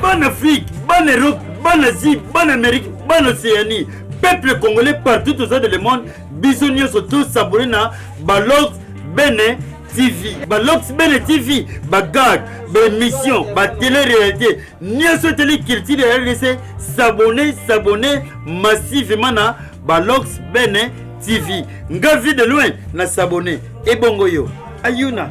bana afrique bana europe bana asie bana amérique bana océanie peuple congolais partout aux de le monde biso nyonso tosabole na balox bene tv balox bene tv bagag baémission batele réalité nyonso eteli culture ya rdc sabone sabone massivement na balox bene tv nga vie de loin na sabone ebongo yo ayuna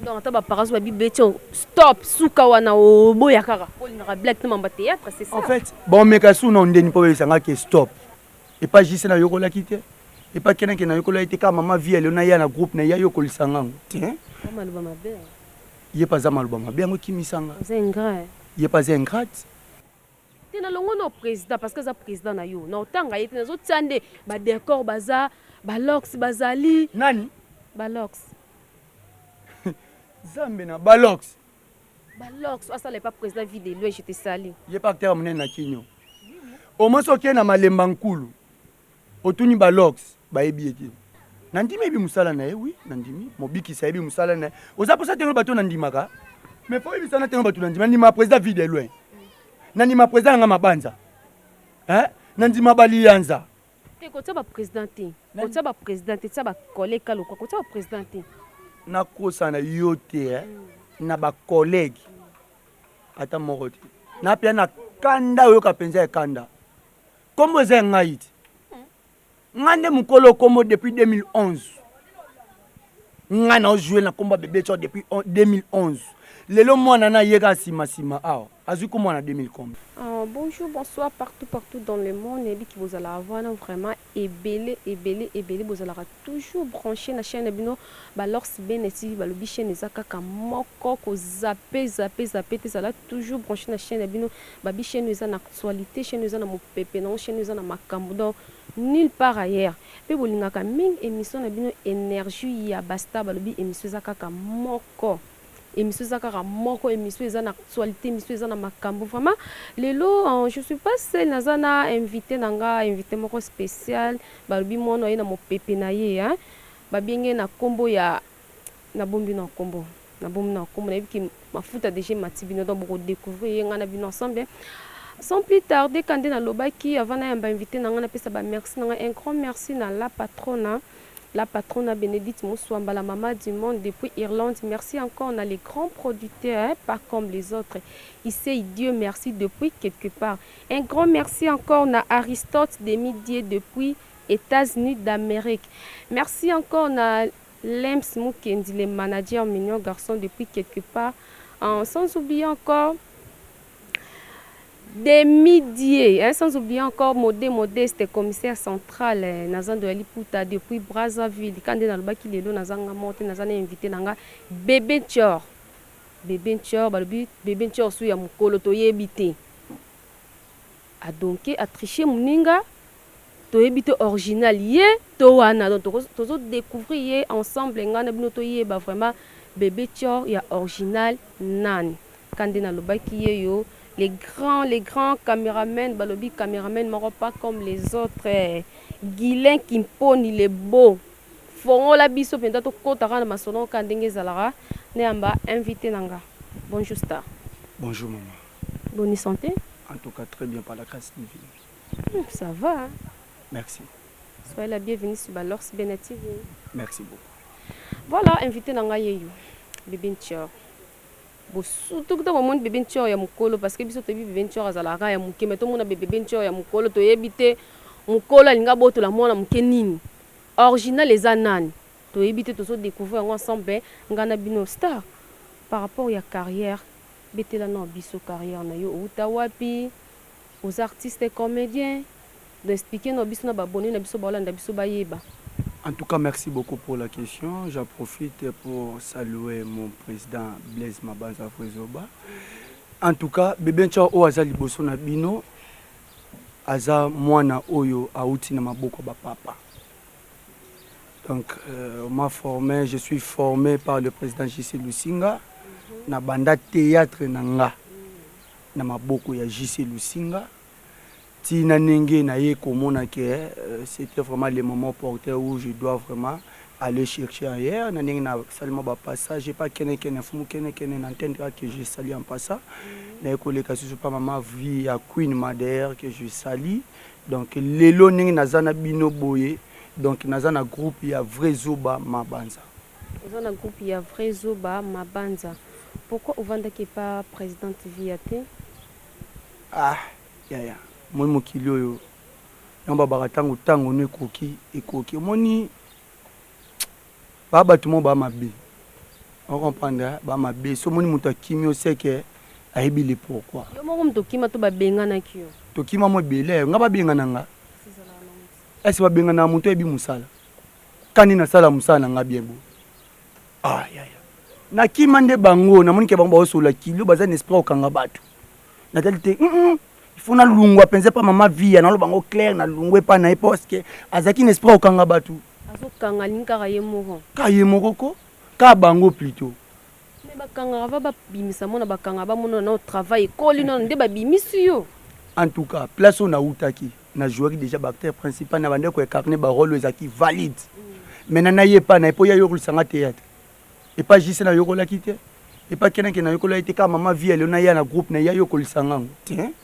Donc ata ba parents ba bi beti stop suka wana oboya kaka po olingaka blague te mamba theatre c'est ça. En fait bon meka sous non ndeni po besa nga ke stop et pas juste na yoko laki te et pas kena kena yoko laki te ka maman vie elle na ya na groupe na ya yoko lisanga ngo te. Maman luba mabe. Ye pas za maluba mabe yango kimisa nga. Vous êtes ingrat. Ye pas ingrat. Te na longwe no president parce que aza president na yo na otanga ye te na zo tia nde ba decor baza ba locks bazali nani ba locks zambe na ba locks ba locks asala epa president vie de loin je te sali ye pa acteur munene na kinyo au moins okie na malemba nkulu Otuni ba logs bayebi ye te. Na ndimi ayebi musala na ye oui na ndimi mobikisi ayebi musala na ye oza posa te oloba to na ndimaka mais faut oyebisa na te batu na ndima na ndima president vie de loin na ndima president na nga mabanza hein na ndima ba liyanza te kotia ba president te kotia ba president te tia ba collègue ka lokwa kotia ba president te na kosa na yo te hein mm. na ba collègue ata moko te na pia na kanda oyoka penza ya kanda Kombo eza ya ngai te. Nga nde mukolo kombo depuis 2011. Nga na jouer na kombo bebe cho depuis 2011. Lelo mwana na yeka sima sima awa. Azui kombo na 2000 kombo. Uh, bonjour, bonsoir partout partout dans le monde. Nayebi ki bozala avana vraiment ebele ebele ebele bozalaka toujours branché na chaîne bino ba Lors Bene TV balobi chaîne eza kaka moko ko zappe zappe zappe te zala toujours branché na chaîne bino babi chaîne eza na Actualite chaine oyo eza na mupepe na ngo chaine oyo eza na makambu donc nul part ailleurs pe bolingaka mingi emission na bino energie ya ba star balobi emission eza kaka moko emission eza kaka moko emission eza na actualite emission eza na makambu vraiment lelo je suis pas seul naza na invite na nga invite moko special balobi mwana aye na mupepe na ye hein ba bienge na kombo ya Na bombi na kombo na bombi na kombo na yebi ki mafuta deja emati bino donc boko decouvrir ye nga na bino ensemble sans plus tarde ka nde na lobaki avant na yamba invite na nga na pesa ba merci na nga un grand merci na la patrona la patrona Benedite Muswamba la mama du monde depuis Irlande merci encore na les grands producteurs pas comme les autres Issei Dieu merci depuis quelque part un grand merci encore na Aristote Demi Dieu depuis Etats-Unis d'Amerique merci encore na Lemps Mukendi le manager mignon garçon depuis quelque part en sans oublier encore Demi die hein sans oublier encore Mode Modeste commissaire central eh, na zando ya liputa depuis Brazzaville ka nde nalobaki lelo naza nga moko te naza na invité na nga Bebe Ntshor Bebe Ntshor balobi Bebe Ntshor su ya mukolo toyebi te A donke a triche muninga toyebi te orginal ye to wana donc toko tozo decouvrir ye ensemble nga na bino toyeba vraiment bebe tshor ya orginal nani ka nde nalobaki yeyo les grands les grands cameramen balobi cameramen moko pas comme les autres Guylain Kimponi le beau fongola biso penza tokota ka na masolo ka ndenge ezalaka nayamba invite na nga bonjour star. Bonjour maman. Boni sante? En tout cas très bien par la grace divine. Hum ça va. Merci. Soyez la bienvenue sur Balors Bena TV. Merci beaucoup. Voilà invité na ngai yeyo Bebe Ntior. bosutu kuta bomoni bebe ntior ya mokolo parce que biso toyebi bebe ntior azalaka ya moke me tomona bebe ntior ya mokolo toyebi te mokolo alingi abotola mwana moke nini original eza nani toyebi te tozodécouvrir yango ensemble ngai na bino star par rapport ya carrière Betela nao biso carrière na yo owuta wapi oza artiste comedien donc explique nao biso na ba abonnes na biso bao landa biso ba yeba. En tout cas merci beaucoup pour la question j'en profite pour salue mon president Blaise Mabanza vrai zoba en tout cas bebe nchao oyo aza liboso na bino aza mwana oyo awuti na maboko ya ba papa Donc euh, on m'a formé, je suis formé par le président JC Lusinga na banda théâtre na nga na maboko ya JC Lusinga ti na ndenge na ye komona ke euh, c'était vraiment le moment opportun où je dois vraiment aller chercher ailleurs na ndenge na sali mwa bapassage pa kene kene fumu kene kene na ntende kaka que je sali en passant naye koleka susu pa mama vie ya queen ma d'ailleurs que je sali Donc lelo ndenge naza na bino boye donc naza na groupe ya vrai zoba mabanza. Oza na groupe ya vrai zoba mabanza pourquoi ovandaki epa presidente viya te? Ah yaya omoni mokili oyo nao babaka tango tango no ekoki ekoki omoni. ba batu moko ba mabe o comprendre ba mabe so moni mutu akimi o sait que ayebi le pourquoi yo moko mutu okima to ba benganaki yo tokima mo ebele nga ba bengana nga est ce ba bengana mutu ayebi musala kani na sala musala na nga bien bo ah ya ya nakima nde bango namoni ke bango baosolola kilo baza na esprit okanga batu natali te mm -mm. ifo nalungwa mpenza epa mama via naloba yango claire nalungwa epa na ye parceke azalaki na esprit okanga bato azokanga alingi kaka ye moko ka ye moko ko ka bango plutot me bakangaka va babimisa mona bakangaka bamonana nao travail ekoli nono nde babimisi yo en tout cas place oyo nautaki na jouaki déjà baacteur principal na bandeko ya carnet barole oyo ezalaki valide mm. maintenant naye epa na ye mpo ye ayokolisanga théâtre epa JC na yokolaki te epa kena kena yokola ye te kaka mama vie leo na ya na groupe na ya yo kolisa ngango te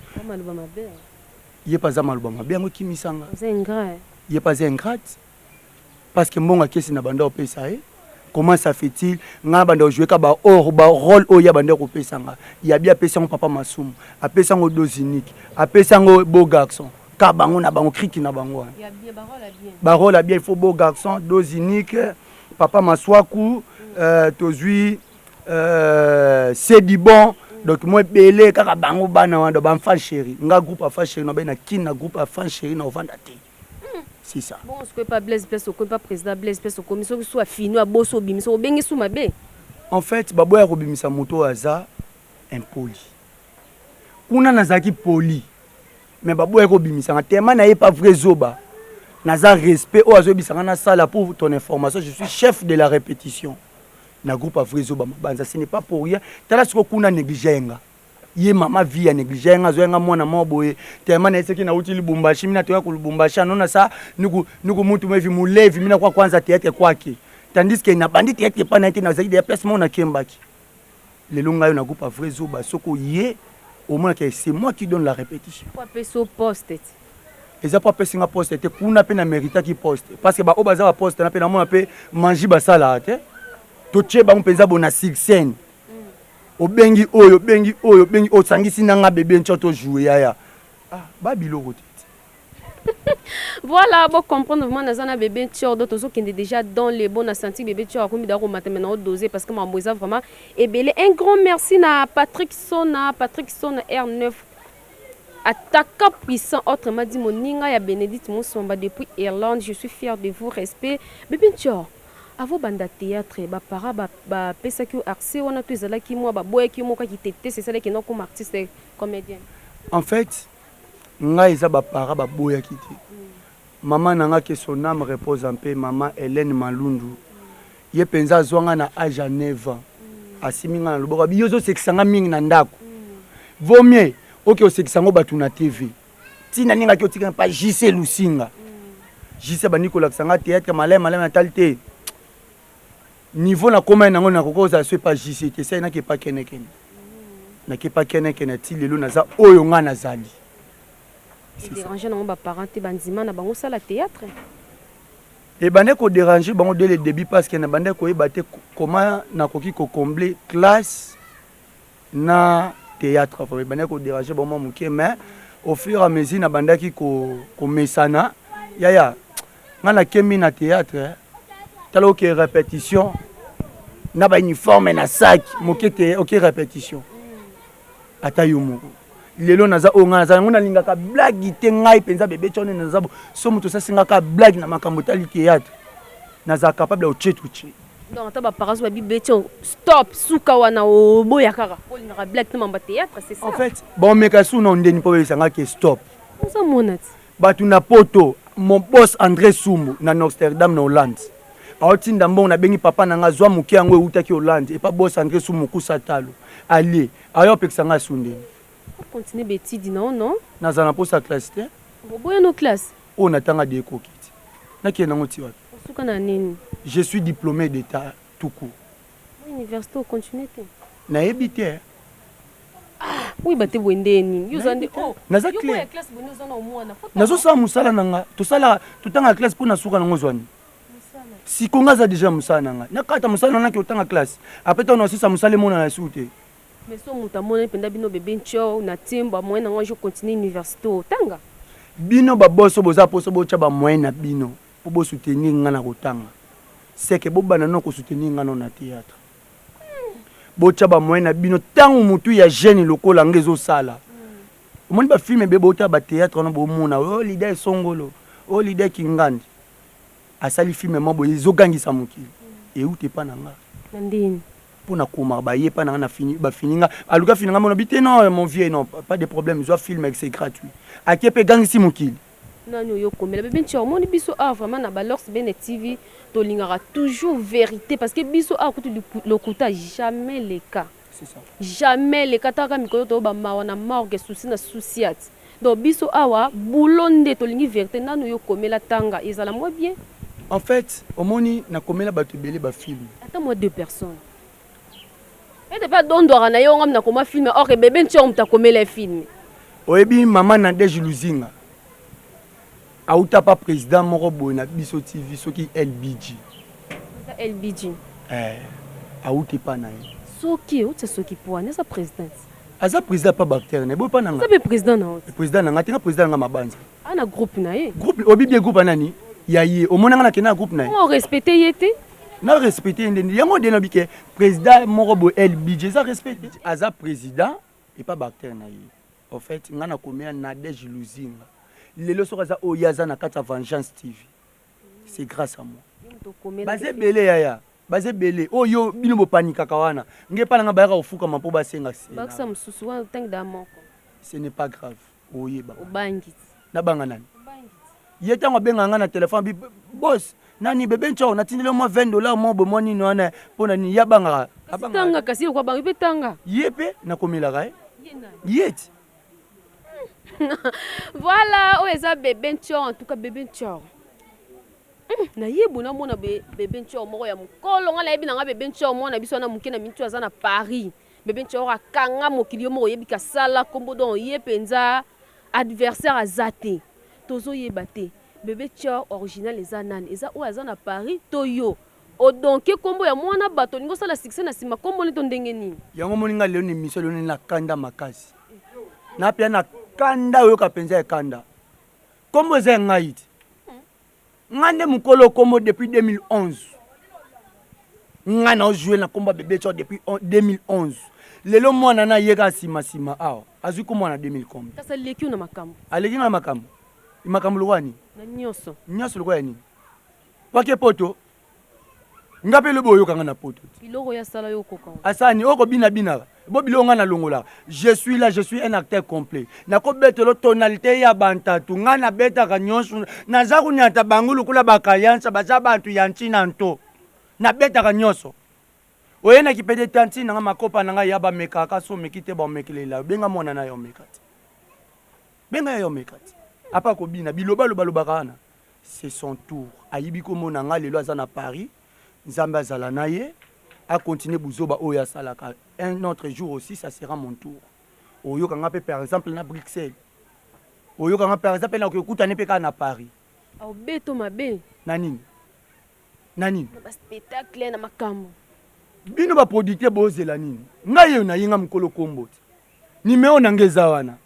ye pa za maluba mabe yango kimisa nga ye pa za ingrate parce que mbongo akesi na banda opesa ye comment ça fait-il nga banda ojouer ka ba or ba rôle oyo ya banda kopesa nga ya bi apesa ngo papa masumu apesa ngo dose unique apesa ngo beau garçon ka bango na bango kriki na bango wana ba rôle ya bien il faut beau garçon dose unique Papa Masuaku, euh, tozui euh, c'est du bon donc moi ebele kaka bango bana wana ba enfant chéri nga groupe enfant chéri na na kin na groupe enfant chéri na ovanda te c'est ça bon ce pas Blaise place au pas président Blaise place au comme ce soit fino aboso bimisa obengi sous ma bé en fait babo ya kobimisa moto aza impoli kuna nazalaki poli mais baboya ko bimisa nga tellement na ye pas vrai zoba naza respect oyo azoyebisa nga nasala pour ton information je suis chef de la répétition na groupe ya vrai zoba mabanza ce n'est pas pour rien tala sikoyo kuna néglige ye nga ye mama vie ya néglige ye nga azoya nga mwana moko boye tellement na ye soki nauti libumbashi mina toya ku lubumbashi anona sa niku niku mutu mevi mulevi mina kwa kwanza teyate kwake tandis que nabandi teyate epai na ye te nazalaki deya place moko nakembaki Lelo nga yo na groupe ya vrai zoba soki oye omona ke c'est moi qui donne la répétition. Pourquoi peso poste ti? eza mpo apesi nga poste te kuna mpe na meritaki poste parce que baoyo baza baposte na mpe namona mpe manji basalaka te totie bango mpenza bona succène mm. obengi oyo obengi oyo obengi osangisi na nga bebe nco tojoue yaya ah, babiloko te Voilà bo comprendre vraiment naza na bebe tior donc tozo kende déjà dans les bons na senti bebe tior akomi da ko matame na dose parce que mambo eza vraiment ebele un grand merci na Patrick Sona Patrick Sona R9 attaquant puissant autrement dit moninga ya Benedict Musomba depuis Irlande je suis fier de vous respect bebe tior avo banda théâtre ba para ba, ba pesa ki accès wana to ezalaki moi ba boya ki moka ki tete c'est ça les qui n'ont comme artiste comédien en fait Ngai eza ba parents ba boyaki te maman na nga que son ame repose en paix maman Helène Malundu ye penza azua nga na age ya 9 ans asimbi nga na loboko abi yo ozo sekisa nga mingi na ndaku vaut mieux oke osekisa ngo batu na TV ti na lingaki otika nga pa JC Lusinga JC abandi kolakisa nga theatre malayi malayi na tali te Niveau na komaki nango na koki ozala so epa JC te sai na ke epa kene kene na ke epa kene kene ti lelo naza oyo nga nazali. E deranger nango ba parents te ba ndima na bango sala theatre? Ebandaki ko deranger bango dès le debut parce que na bandaki koyeba te comment nakoki ko combler classe na theatre vraiment ebandaki ko deranger bango mua mukie mais au fur et à mesure na bandaki ko ko mesana yaya nga na kembi na theatre tala oke repetition na ba uniforme na sac moke te oke repetition ata yo moko lelo naza oyo ngai naza yango nalingaka blagi te ngai mpenza bebe tshone naza so moto osasingaka blagi na makambo etali théâtre naza capable ya otie totie Donc ata ba parents ba bi beti yo stop suka wana oboya kaka po olingaka blague te mambo ya theatre c'est ça? En fait ba omeka sous nom ndeni po bebisa nga ke stop. Oza mona ti. Batu na poto mon boss Andre Sumbu na Norsterdam na Hollande ao tinda mbongo na bengi papa na nga zua muke yango ewutaki Hollande epa boss Andre Sumbu mukusa talo alie aye opekisa nga sous ndeni. O continuer ba etudes na yo non? Nazala na posa ya classe te. Oboya no classe? Oyo na tanga de ekoki te. Na kende nango ti wapi? Osuka na nini? Je suis diplome d'etat tout court. Na universite o continuer te? Na yebi te. Oyeba te boye nde nini yo oza nde oh, naza clair nazo sala musala na nga tosala totanga classe mpo na suka nango ozwani siko nga aza deja musala na nga nakata musala na naki otanga classe apres ntango nasisa musala emonana esuku te Mais soki mutu amonani penza bino bebe ntshou na team ba moyen na ngo ezo continuer universite oyo tanga. Bino ba boss oyo boza posa botia ba moyen na bino po bo soutenir nga na kotanga seke bo banda nano ko soutenir nga nano na theatre botia ba moyen na bino tangu mutu ya jeune lokola nga ezo sala omoni ba film ebele bo tala ba theatre wana bo mona oh leader esongolo oh leader kingandi Asali film mwa boye ezo gangisa mokili ewuta epa na nga. Na ndini. Po na koma ba ye epa na nga na fini ba fini nga aluki afina nga mona bi te non mon vieux non pas de problème zwa film ex c'est gratuit ake pe egangisi mokili. Nani oyo okomela bebe ntshou omoni biso awa vraiment na ba lords bene TV tolingaka toujours verite parce que biso awa kutu lokuta jamais leka. Jamais le kataka mikolo to ba mawa na morgue souci na souciat donc biso awa boulot nde to lingi verite nanu yo komela tanga ezala mwa bien. En fait omoni na komela batu ebele ba film. Ata mwa deux personnes ete pe adondwaka na ye ongam na koma film or ke bebe ntshor moto akomela ye film. Oyebi maman Nadège Luzinga? Awuta pa president moko boye na biso TV soki LBG. Eza LBG. Eh awuta epa na ye. Soki awuti ya soki po wana eza president. Aza president pa bactère na ye boye pa na nga. Aza pe president na yo. President na nga te nga president na nga mabanza. Ah na groupe na ye. Groupe obibi ye groupe ya nani? Ya ye omona nga na kenda na groupe na ye. Comment o respecter ye te? na respecte ye ndeni yango de nabike president moko boye el budget eza respecte aza president epa bacteur na ye Au fait nga na komela Nadège Luzinga lelo soki aza oyo ye aza na kati ya Vengeance TV c'est grace à moi baza ebele yaya baza ebele oyo yo bino bopanikaka wana nge epa na nga bayaka kofukama mpo basenga se ce n'est pas grave oyeba obangi Na banga nani? Ye tango abenga nga na telephone abi boss nani bebe nchao natindeli yo mwa 20 dollars mwa boye mwa nini wana mpo na nini ye abangaka tanga kasi yoko abanga mpe tanga ye mpe nakomelaka ye ye ti voilà oyo eza bebe nchao en tout cas bebe nchao hmm, nayebu namona bebe nchao moko ya mokolo ngai nayebi na ngai bebe nchao mwana biso wana moke na mintu aza na paris Bebe ncor akanga mokili yo moko oyebi kasala kombo donc ye penza adversaire aza te tozo yeba te bebe ncor original eza nani eza oyo aza na paris to yo o donke kombo ya muana batu olingi osala succès na sima kombo ne to ndenge nini. Yango omoni nga lelo na emission eloneli na kanda makasi na pia na kanda oyoka penza ya kanda kombo eza ya ngayi te. nga nde mukolo kombo depuis 2011 nga na ojouer na kombo ya bebe tsho depuis 2011 lelo mwana na ye kaka sima sima awa azwi kombo wana 2000 kombi kasi aleki yo na makambo aleki nga na makambo makambo lokola nini na nyonso nyonso lokola nini wake poto nga mpe lobi oyoka nga na poto biloko ya sala yo koka asani oko bina bina bo biloko nga na longola je suis là je suis un acteur complet nako betelo tonalité ya bantatu nga na betaka nyonso naza kunyata bango lokola bakayansa baza bantu ya ntina nto na betaka nyonso oye na kipede tanti nanga makopa nanga ya bamekaka so omeki te baomekelela benga mwana na yo omeka te benga ya yo omeka te apa kobina biloba loba lobaka wana c'est son tour ayibi kombo na nga lelo aza na Paris nzambe azala na ye a continue buzoba oyo asalaka un autre jour aussi ça sera mon tour oyoka nga pe par exemple na Bruxelles oyoka nga par exemple na kokutane pe kaka na Paris obeto mabe na nini na nini na ba spectacle na makambo bino ba producteur bozela nini ngai oyo nayenga mokolo kombo te nimero na nga eza wana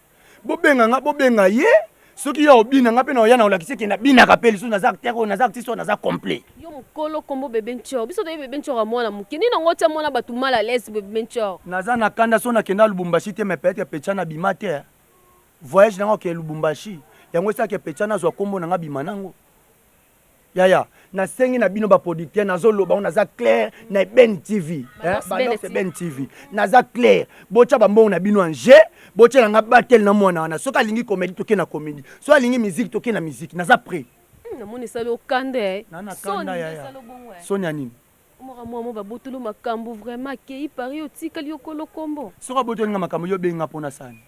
Bobenga nga, bobenga ye. Soki yo obina nga pe na oya na olakisi ke na binaka pe lisusu naza acteur oyo naza artiste oyo naza complet. Yo mukolo kombo bebe ntshor biso toyebi bebe ntshor ya mwana muke nini yango otia mwana batu mal à l'aise bebe ntshor. Naza na kanda soki na kenda lubumbashi te mais peut etre pechana abima te hein voyage nanga okende lubumbashi yango esala ke pechana azua kombo nanga abima nango. Yaya, na sengi na bino ba producteurs nazo loba on naza clair na Eben TV. Hein, Balos Eben TV. Naza clair. Bocha ba mbongo na bino en jeu. Bocha na nga battle na mwana wana. Soki alingi comédie toke na comédie. Soki alingi musique toke na musique. Naza prêt. Hmm, na moni salo kanda eh. Na na kanda ya ya. Eh. Sonia nini? Mora mwa mo babotolo makambo vraiment kei pari otikali okolo kombo. Soki abotoli nga makambo yo benga pona sani.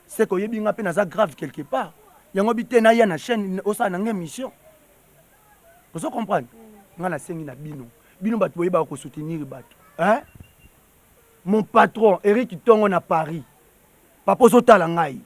seke oyebi nga pe naza grave quelque part yango bi te naya na chaine osala nanga emission ozo comprendre mm. nga nasengi na bino bino bato boyebaka kosoutenir bato hein? mon patron eric tongo na paris papa ozotala ngai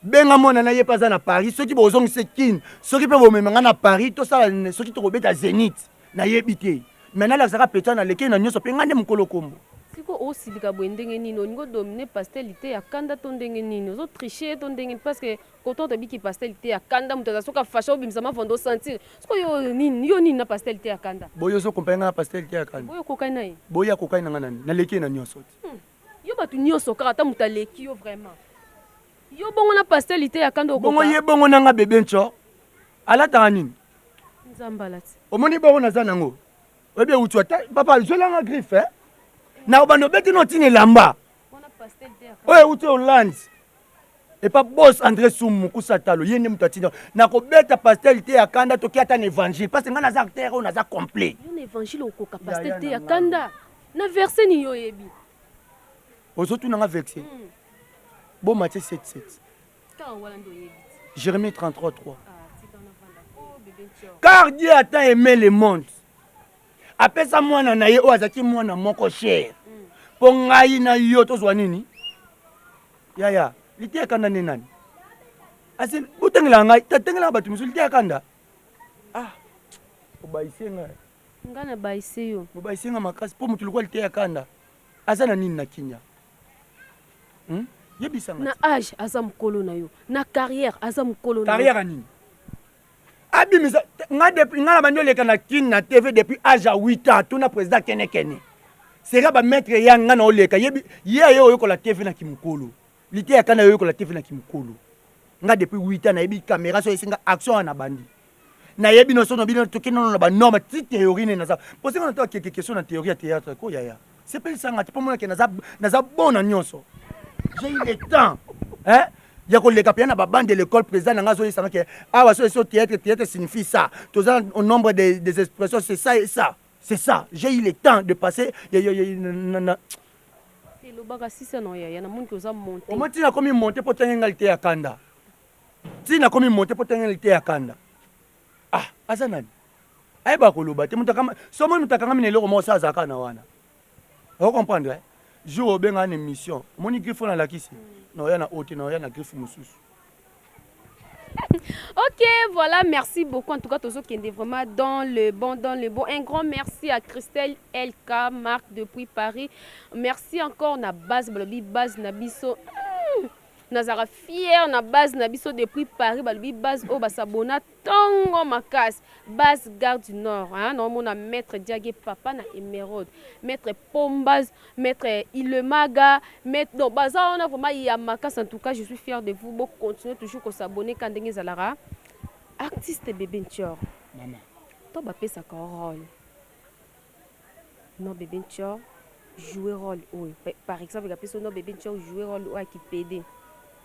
benga mwana na ye mpe aza na paris soki bozongisi kin soki mpe bomema ngai na paris tosala soki tokobeta zenith Na yebi te mais na lakisaka pecha na leki ye na nioso pe nga nde mukolo kombo. Siko ozo silika boye ndenge nini olingi o domine pasteur liteya kanda to ndenge nini ozo triche ye to ndenge parce que coton to biki pasteur liteya kanda mutu aza soki a fache o bimisa mavonda o sentir siko yo oyo nini yo nini na pasteur liteya kanda Boye ozo compare nga na pasteur liteya kanda boye okokani na ye boye akokani na nga na nini na leki ye na nioso te. Hum yo batu nioso kaka ata mutu aleki yo vraiment yo bongo na pasteur liteya kanda okoka. Bongo ye bongo na nga bebe nco alataka nini. omoni bongo naza nango oyebi ewutu ata papa zwelanga griffe eh? na obanda obeti no ntina elamba oyo ewuti hollande epa bos andré sum mokusa talo ye nde moto atinda nakobeta pastel te ya kanda toki ata na évangile parce ngai naza acteur oyo naza complet na évangile okoka pastel te ya kanda na verse nini yo oyebi ozotuna nga verse hmm. bomatie 77 Jérémie 33, 3. Car Dieu a tant aimé le monde. apesa mwana na ye oyo azalaki mwana moko shere mpo ngai na yo tozwa nini yaya liteya kanda nde nani asi botangelaka ngai tatangelaka bato mosusu liteya kanda ah obayise ngai ngai nabayise yo bobayise ngai makasi mpo moto lokola liteya kanda aza na nini na kinya Hum? Yebisa nga. Na âge aza mukolo na yo. Na carrière aza mukolo na yo. Carrière nini? Abimisa nga depuis nga na bandi oleka na kin na TV depuis âge à 8 ans tuna président kene kene. Sera ba maître ya nga na oleka yebi ye ayo oyokola TV na kimukolo. Lite ya kana oyokola TV na kimukolo. Nga depuis 8 ans na yebi caméra so esinga action na bandi. nayebi noso na bino toke nono na banorme ti théorie nde naza posenga na to akeke question na théorie ya théâtre ko yaya sepelisanga te mpo monake naza, naza bon na nyonso j'ai eu le temps hein? ya koleka mpenza na babande de l'école président na ngai azoyesanga ke awa so eso théâtre théâtre signifie ça toza au nombre des, des expressions c'est ça et ça c'est ça j'ai eu le temps de passer ya, ya, ya, na, na, elobaka sisa na yaya namoni koza monte omo ntina akomi monte mpo tangi ngai te ya kanda ti nakomi mote po tenge liteya kanda ah aza nani ayeba koloba te so omoni moto akangami na eloko moko sa azalaka na wana o comprendre eh? jour obengaka na émission omoni griffe wana alakisi na oya na ote na oya na griffe mosusu ok, voilà, merci beaucoup. En tout cas, Tozo Kende vraiment dans le bon, dans le bon. Un grand merci à Christelle LK, Marc depuis Paris. Merci encore na base, bolobi base na biso. Nazalaka fière na base na biso depuis Paris balobi base oyo ba s'abonna tongo makasi base gare du nord hein na omona maitre diagie papa na emeraude maitre pombas maitre ilemaga maitre donc baza wana vraiment ya makasi en tout cas je suis fière de vous bo continuer toujours ko s'abonner ka ndenge ezalaka artiste bebe ntior maman to ba pesaka role Non bebe ntshor jouer role oyo par exemple ka peso non bebe ntshor jouer role oyo ki pede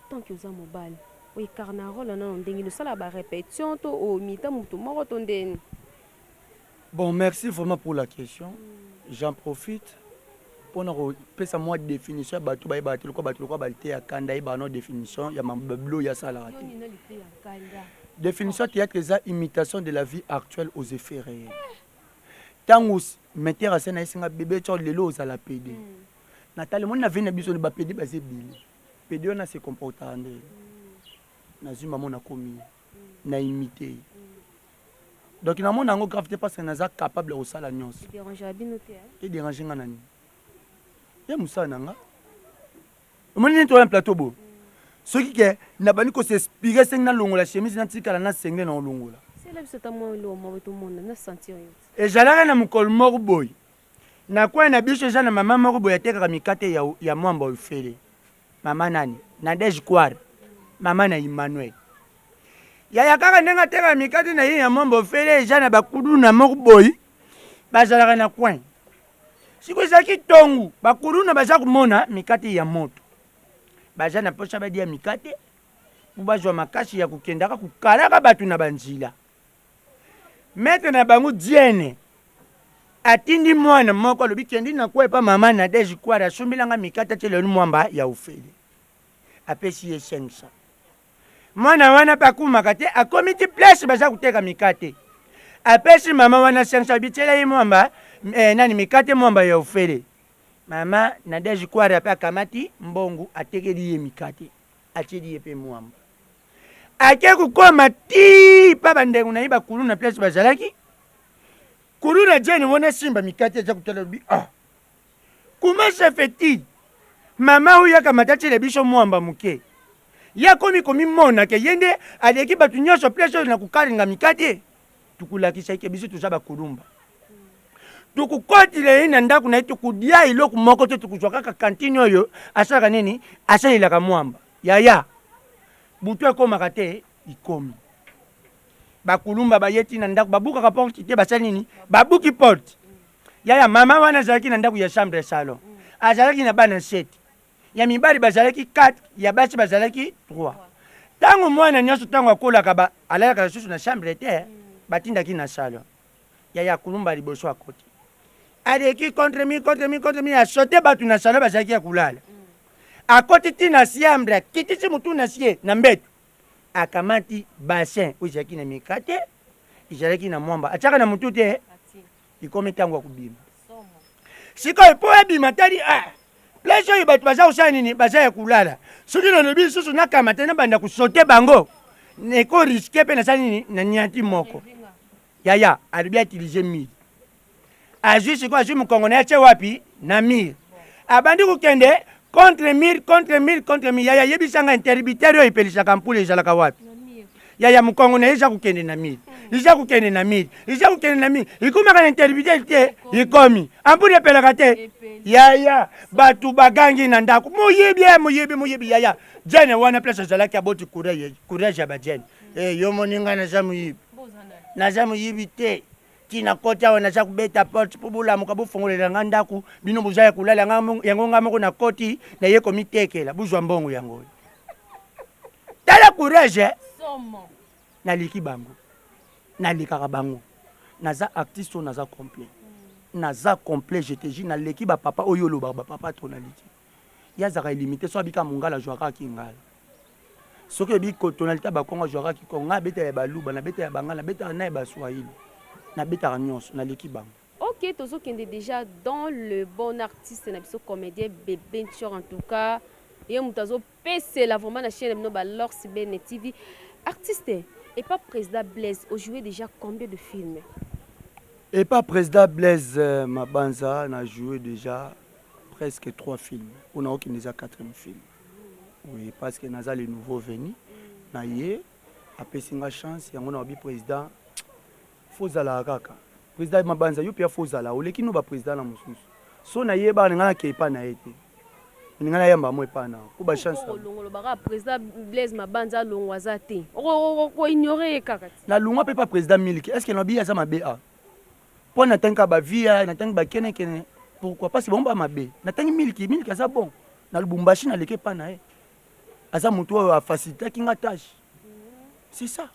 tant que oza mobali oyo ekarna role wana na ndenge no sala ba repetition to o mita mutu moko to ndeni Bon merci vraiment pour la question j'en profite pona ko pesa mwa definition ya batu baye batu lokwa batu lokwa ba lite ya kanda ye ba no definition ya mabablo ya sala te definition ya theatre eza imitation de la vie actuelle aux effets reels tangu metteur asi anayesi nga bebe tshior lelo ozala pede na tali moni na vie na biso ba pede baza ebele pede wana se comportaka nde nazwi mamo nakomi ye na imite ye donc namona yango grave te parce que naza capable ya kosala nyonso e derange nga na nini ye mosala na nga omoni nini toya na plateau bo soki ke nabandi ko s'inspire sengi nalongola chemise natikala na sengle na olongola ezalaka na mokolo moko boye na kwai na biso eza na mama moko boye atekaka mikate ya, ya mwamba ofele mama nani nadege kware mama na emmanuel yaya kaka ndenge atekaka mikate na ye ya mwamba ofele eza na bakuduna moko boye bazalaka na kwai Siko ezalaki tongu bakuluna baza kumona mikate ya moto baza na posa badia mikate po bazwa makasi ya kukendaka kukalaka batu na banzila. Maitre na bango Diene atindi mwana moko alobi kendi na kue epa mama Nadège Kwara asombela nga mikate atiela yo mwamba ya ofele apesi ye 500. Mwana wana pe akumaka te, akomi ti place baza koteka mikate. Apesi mama wana cinq cents, bitiela ye mwamba, eh, nani, mikate mwamba ya ofele. Mama Nadège Kwara pe akamati mbongo, atekeli ye mikate, atieli ye pe mwamba. Ake kokoma tii pa bandeko na ye ba kuluna place bazalaki. Kuluna Jane wana asimba mikate aza kotala, alobi, ah, comment ça fait-il? Mama oyo akamata atiela biso mwamba moke. Ye akomi komimona ke ye nde aleki batu nionso place oyo na kokalinga mikate. Tokolakisa ye ke biso toza ba Kulumba. Tokokotela ye na ndaku na ye, tokolia eloko moko te, tokozua kaka cantine oyo asalaka nini? Asalelaka muamba. Yaya, butu ekomaka te? Ekomi. Ba Kulumba baye ti na ndaku, babukaka porte te, basali nini? Babuki porte. Yaya, mama wana azalaki na ndaku ya chambre ya salon. Azalaki na bana sept. ya mibali bazalaki 4 ya basi bazalaki 3 ntango mwana nyonso ntango akolaka ba, alalaka lisusu na chambre te batindaki na salon yaya akulumba liboso akoti aleki contre mi contre mi contre mi asote bato na salon bazalaki ya kulala akoti ti na chambre akitisi motu na sie na mbeto akamati bassin oyo ezalaki na mikate ezalaki na mwamba atiaka na motu te ekomi ntango ya kobima sikoyo mpo ebima tali a ah, place oyo bato baza kosala nini baza ya kolala soki nalobi lisusu nakamata nabanda kosote bango eko riske mpe nasali nini na nianti moko yaya alobi atilize mire azwi sikoyo azwi mokongo na ye atye wapi na mire abandi kokende Contre mur, contre mur, contre mur. Yaya yebisa nga interrupteur oyo epelisaka mpula ezalaka wapi? Yaya mukongo na eza kokende na mur. Eza kokende na mur. Eza kokende na mur. Ikomaka na interrupteur te, ikomi. Ampula epelaka te. Yaya batu bagangi na ndako. Moyibi, eh, moyibi, moyibi yaya. Jane wana place azalaki aboti courage, courage ya ba Jane. Eh, yo moni nga naza moyibi. Naza moyibi te. Ti na koti awa naza kobeta porte po bolamuka bofongolela nga ndaku bino boza ya kolala nga yango nga moko na koti na ye komitekela bozwa mbongo yango oyo tala courage somo naliki bango nalekaka bango naza artiste oyo naza complet naza complet je te jure naleki ba papa oyo olobaka ba papa to naliki ye azalaka illimite soki abika mungala ajuaka ki ngala soki ebi ko tonalite ya bakongo ajuaka ki kongo ngai nabeta ya baluba nabeta ya bangala nabetaka naye ba swahili nabetaka nionso naleki bango. Ok tozo kende dejà dans le bon artiste na biso comedien bebe ntshor en tout cas ye mutu azo Pesela vraiment na chaine na bino ba lords bene TV artiste epa president Blaise o joue dejà combien de films? Epa president Blaise mabanza na joue dejà presque trois films oyo nao kende eza quatrième film oui parce que naza le nouveau venu na ye apesi nga chance yango na lobi president Faut zalaka kaka president mabanza yo pia faut zala oleki no ba president na mususu so na yeba na nga na ke epa na ye te na nga na yamba mo epa na po ba chance ko longolo ba kaka president Blaise mabanza longo aza te oko ko ignorer ye kaka na lunga pe pa president miliki est ce que na biya za mabe a po na tanka ba via na tanka ba kene kene pourquoi parce que bon ba mabe na tanki miliki miliki aza bon na lubumbashi na leke epa na ye aza mutu oyo a facilitaki nga tâche c'est ça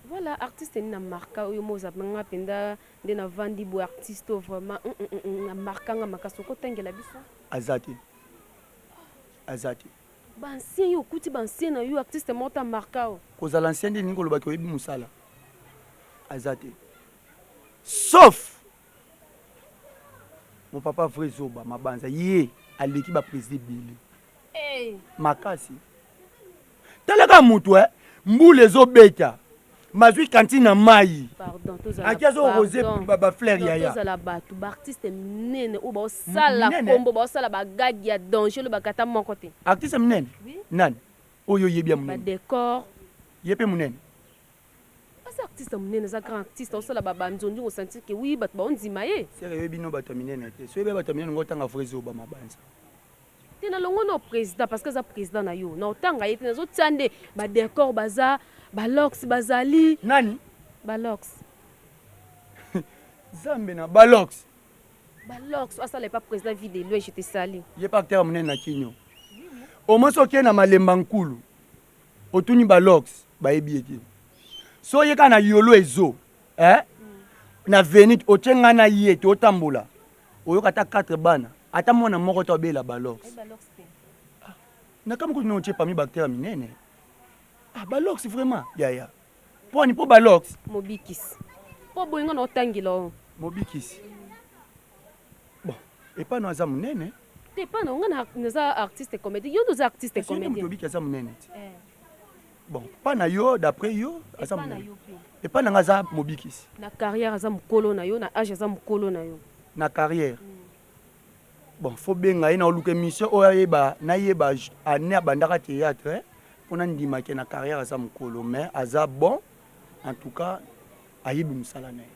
Voilà artiste nini a marqua yo moi oza nga penza nde na vandi boye artiste oyo vraiment humm a marqua nga makasi oko tangela biso? Aza te aza te. Ba ancien yo okuti ba ancien na yo artiste moko te a marqua yo? Kozala ancien nde elingi koloba ke oyebi musala? Aza te sauf mon papa vrai zoba mabanza ye aleki ba president ebele makasi. Tala ka mutu eh mbula ezo beta mazui cantine na mayi aki azo rose ba fleur yaya. Tozala batu ba artiste minene oyo bao sala kombo bao sala ba gag ya danger olobaka ata moko te. Artiste minene nani oyo oyebi ya munene? Ba decor. Ye pe munene? Aza artiste ya munene aza grand artiste azo sala ba ba nzonzi ko sentir que oui batu bao ndima ye. Sœur oyebi no batu ya minene te soki oyebi batu ya minene ngo tanga vrai zoba mabanza. te na longo no president parce que aza president na yo na otanga ye te nazo tia nde ba decor baza ba locks bazali nani ba locks zambe na ba locks ba locks asala epa president vie de loin je te sali ye pa acteur munene na kinyo au moins okie na malemba nkulu otuni ba locks bayebi ye te so oyeka na yolo ezo eh? na venite otie ngai na ye te otambola Oyoka ata quatre bana ata mwana moko te abela balox ah, nakamwe kutu nontie pami bacteur minene ah, balox vraiment yaya pwani po balox mobikisi po boye nga na otangela o mobikisi bon epano aza monene te epano nga naza artiste comédie yo nde oza artiste comédien obiki aza monene ti eh. bon pa na yo d'après yo aza monene epai na nga aza mobikisi na carrière aza mokolo na yo na age aza mokolo na yo na carrière mm. bon fo benga ye na oluka émission oyo ayeba nayeba année abandaka théâtre mpo nandimake na carrière aza mokolo mais aza bon en tout cas ayebi mosala na ye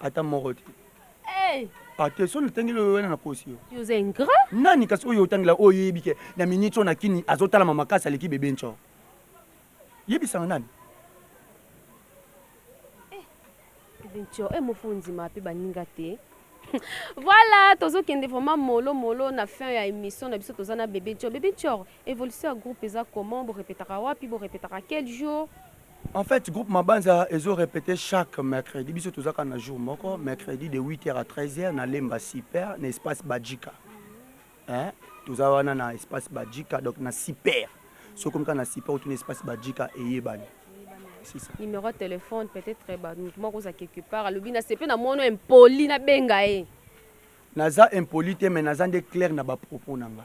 ata moko te hey. ate ah, so natangeli oyo wana na posi yo oza ingrat nani kasi oyo otangela oyo oyebi ke na miniti oyo na kini azotalama makasi aleki bebe nco yebisanga nani eh, bebe nco e eh, mofunzi ma mpe baninga te voilà tozokende vraiment molo molo na fin ya émission na biso toza na bebe nco bebe nco évolution ya groupe eza comment borepetaka wapi borepetaka quel jour En fait groupe mabanza ezo repete chaque mercredi biso toza kaka na jour moko mercredi de 8h à 13h na lemba super na espace bajika hein? toza wana na espace bajika donc na super soki okomi kaka na super otuna espace bajika eyebani numéro ya téléphone peut-être eh, bato moko oza quelque part alobi na sepe na mono impoli nabenga ye naza impoli te mais naza nde claire na bapropos na nga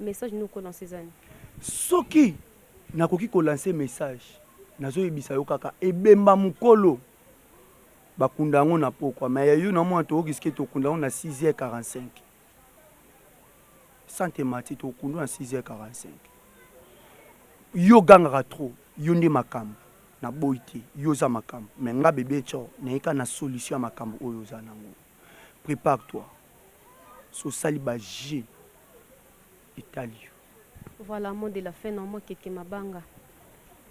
Message nini oko lancer eza nini? Soki nakoki ko lancer message nazo yebisa yo kaka ebemba mukolo ba kunda yango na pokwa mais ya yo na mona toko risque to kunda yango na 6h45 sante mati toko kunda yango na 6h45 yo ogangaka trop yo nde makambu na boyi te yo oza makambu mais nga bebe tshor naye kaka na solution ya makambu oyo oza na ngo. prepare toi soki osali ba jeux etali yo. Voilà mot de la fin na mwa keke mabanga.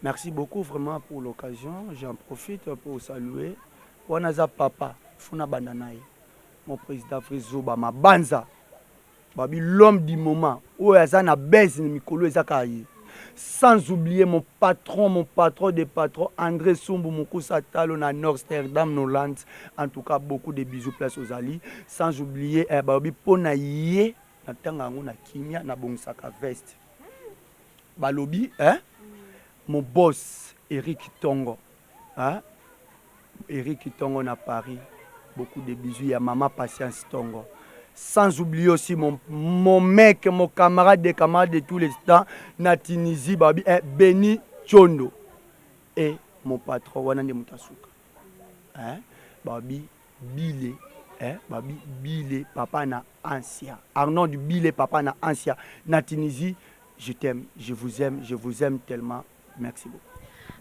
Merci beaucoup vraiment pour l'occasion j'en profite pour saluer wana aza papa il faut nabanda naye mon president vrai zoba mabanza. Babi l'homme du moment oyo aza na buzz na mikolo eza kaka ye. Sans oublier mon patron, mon patron des patrons Andre Sumbu Mukusa Talo na Norsterdam na Hollande. En tout cas beaucoup de bisous place ozali. Sans oublier eh, balobi po na ye na tanga yango na kimia na bongisaka veste. Balobi eh, mon boss Eric Tongo. Ahh Eric tongo na Paris beaucoup de bisous ya maman patience tongo sans oublier aussi mon mon mec mon camarade de camarade de tous les temps na Tunisie babi eh, Beni Chondo et eh, mon patron wana nde moto asuka eh, babi bile eh, babi bile papa na Ansia Arnold bile papa na Ansia na Tunisie je t'aime je vous aime je vous aime tellement merci beaucoup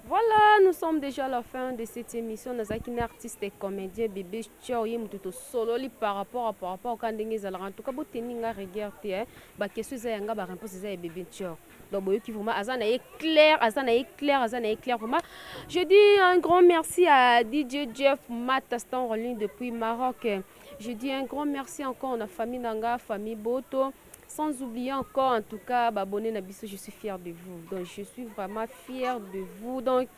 Voilà, nous sommes déjà à la fin de cette émission. Nazaki na artiste et comédien Bébé Chao ye mutu to sololi par rapport à par rapport ka ndenge ezalaka. En tout cas, boteni nga regard te hein. Ba question eza yanga ba réponse eza ya Bébé Chao. Donc boyoki vraiment aza na ye clair, aza na ye clair, aza na ye clair vraiment. Je dis un grand merci à DJ Jeff Mata Stanley depuis Maroc. Je dis un grand merci encore na famille nanga, famille Boto. Sans oublier encore en tout cas ba abonne na biso je suis fier de vous donc je suis vraiment fier de vous donc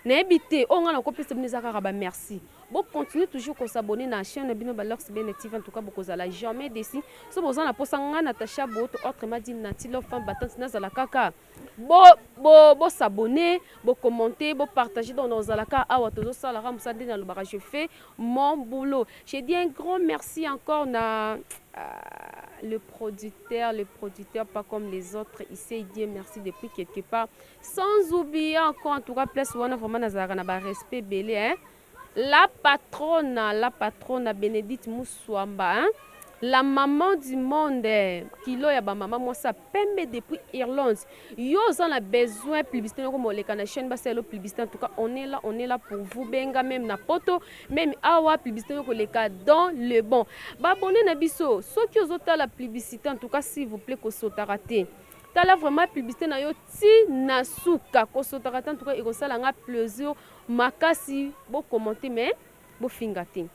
nayebi te oyo ngai nakopesa bino eza kaka ba merci bo continuer toujours ko s'abonner na chaîne na bino ba Lux Bene TV en tout cas bokozala jamais déçu so boza na posa ngai Natacha Boto autrement dit Nati Love Femme Battante nazala kaka Bo bo bo s'abonner bo commenter bo partager donc nakozala kaka awa tozo sala kaka musala ndenge nalobaka je fais mon boulot je dis un grand merci encore na ahh le producteur le producteur pas comme les autres il sait dire merci depuis quelque part sans oublier encore en tout cas place wana vraiment nazalaka na ba respect ebele hein La patrona la patrona Benedite Musuamba hein la maman du monde kilo ya ba maman mwasi ya pembe depuis Irlande yo oza na besoin publicité noko moleka na chaîne basala yo publicité en tout cas on est là on est là pour vous benga meme na poto meme awa publicité noko leka dans le bon ba bonne na biso soki ozo tala publicité en tout cas s'il vous plaît ko sotaka te tala vraiment publicité na yo ti na suka ko sotaka te en tout cas ekosala nga plaisir makasi bo commente mais bo finga te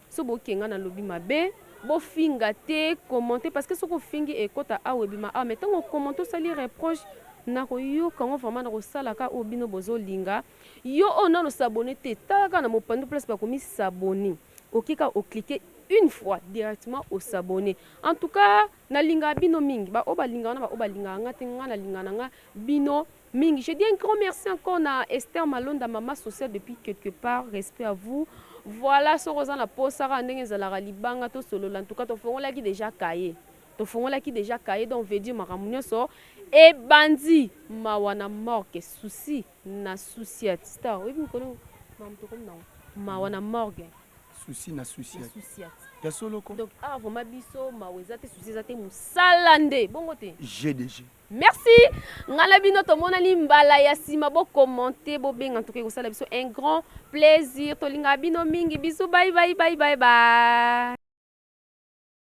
soki bo kenga na lobi mabe bo finga te commente parce que soki ofingi ekota awa ebima awa mais tango commente osali reproche nako yoka ngo vraiment nako sala ka oyo bino bozo linga yo oyo nano s'abonner te tala ka na mopandu place ba komi s'abonner oke ka o cliquer une fois directement o s'abonner en tout cas na linga bino mingi ba oyo ba linga nga na ba oyo ba linga nga te nga na linga na nga bino mingi je dis un grand merci encore na Esther Malonda maman sociale depuis quelque part respect à vous voilà soki oza na posa kaka ndenge ezalaka libanga to solola en tout cas to fongolaki déjà cahier to fongolaki déjà cahier donc veut dire makambo nyonso e bandi mawa na morgue souci na souciat star oyebi mikolo makambo tokomi nango mawa na morgue souci na souciat ya solo ko donc awa vraiment biso mawa eza te souci eza te mosala nde bongo te jeu de jeu Merci nga na bino tomonani mbala ya sima bo commente bo benga ntuka ekosala biso un grand plaisir tolingaka bino mingi bisous bye bye bye bye bye